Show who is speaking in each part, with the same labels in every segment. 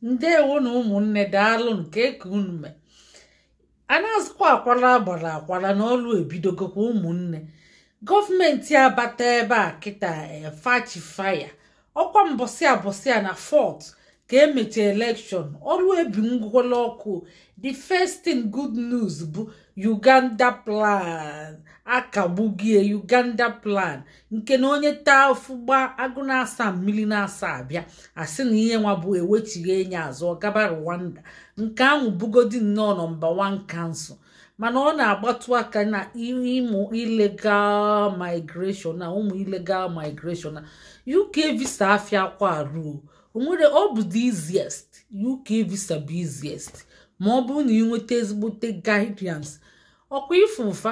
Speaker 1: ndewonụ ụmụnne daalụnụ kee ka unu mee a na-azụkwa akwara agbara akwara na ọlụ ebidogokwa ụmụnne gọọmenti abata ebe a kịta fa chị fire ọkwa mbọsị abọsị a na fourth ka emechi election ọlụ ebi ngwụla ọkụ the first thing good news bụ uganda plan akagbugie uganda plan nke na onye taa afụfụ gbaa agụ n'asaa mmiri n'asaa bịa a sị na ihe nwa bụ ewechigha nya azụ ọ gaba Rwanda nke ahụ bugodi nnọọ nọmba 1 cancel mana ọ na-agbatụ aka na ịmụ illegal migration na ụmụ illegal migration na UK visa afịakwa arụ o onwere ọ bụ the easiest UK visa bụ easiest ma ọ bụrụ na ị nweta ezigbote guidance ọkwa ife ụfa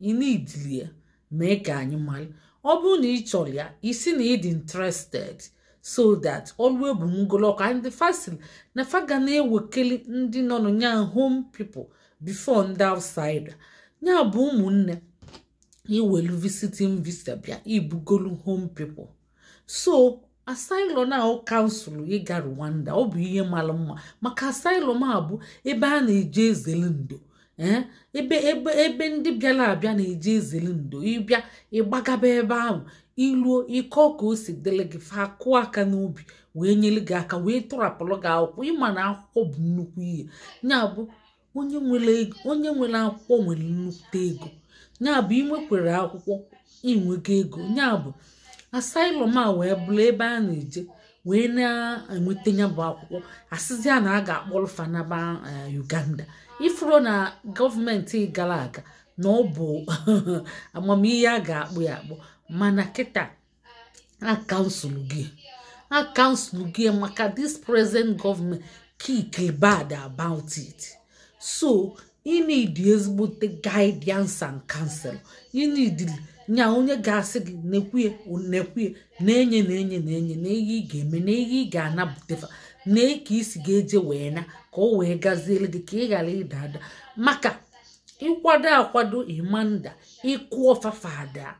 Speaker 1: ị needili ya mee ka anyị mara ọ bụrụ na ị chọrọ ya ị sị na ị dị interested so that ọlụ ebu ngolọkọ and the firstly na fa ga na-ewekeli ndị nọ na ya home people before ndị outsider nya bụ ụmụnne ị welu visiting visa bịa ị bụgolu home people so asylum ahụ a cancel ịga Rwanda ọ bụ ihe mara mma maka asylum a bụ ebe a na-eje ezere ndo eh? ebe ebe ebe ndị bịara abịa na-eje ezere ndo ị bịa ị gbagaba ebe ahụ i luo ị kọọ ka o si dịrị gị fa kụọ aka n'obi wee nyere gị aka wee tọrapụrụ gị akwụkwọ ị ma na akwụkwọ bụ nnukwu ihe ya bụ onye nwere ego onye nwere akwụkwọ nwere nnukwute ego nya bụ i nwekwere akwụkwọ i nwego ego nya bụ asylum a wee bụrụ ebe a na-eje wee na-enweta nya bụ akwụkwọ a sịzịa na a ga-akpọrọ fa naba uganda ị fụrụ na gọọmenti gara aga na ọ bụ amam ihe a ga-akpọ ya akpọ mana kịta a cancelgo ya a cancelgo ya maka this present government kick bad about it so you need ezigbote guidance and counsel you need nya onye ga-asị gị nekwa ya nekwa ya nee nya nee nya nee nya nee ihe ị ga-eme nee ihe ị ga-anapụtafa nee ka i si ga-eje wee na ka o wee gaziere gị ka ị ghara ịda ada maka ị kwado akwado ị ma ada ịkụ ọfafa ada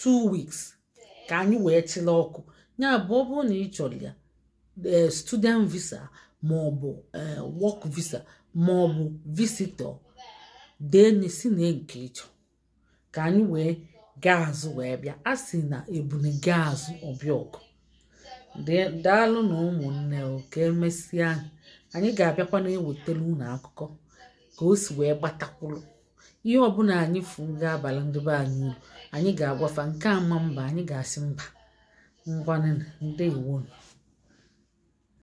Speaker 1: two weeks ka anyị wee chịla ọkụ nya bụ ọ bụrụ na ị chọrọ ya eh, student visa ma ọ bụ eh, work visa ma ọ bụ visitor dee sị nee nke ị chọ ka anyị wee gaa azụ wee bịa a sị na ebune gaa azụ ọ bịa ọgụ daalụnụ ụmụnne ka emesịa anyị ga-abịakwa na-ewetara unu akụkọ ka o si wee gbata kwụrụ ihe ọbụla anyị fụ ga-abala ndị be anyị uru anyị ga-agwa fa nke ama mba anyị ga-asị mba ngwanụ ndewonụ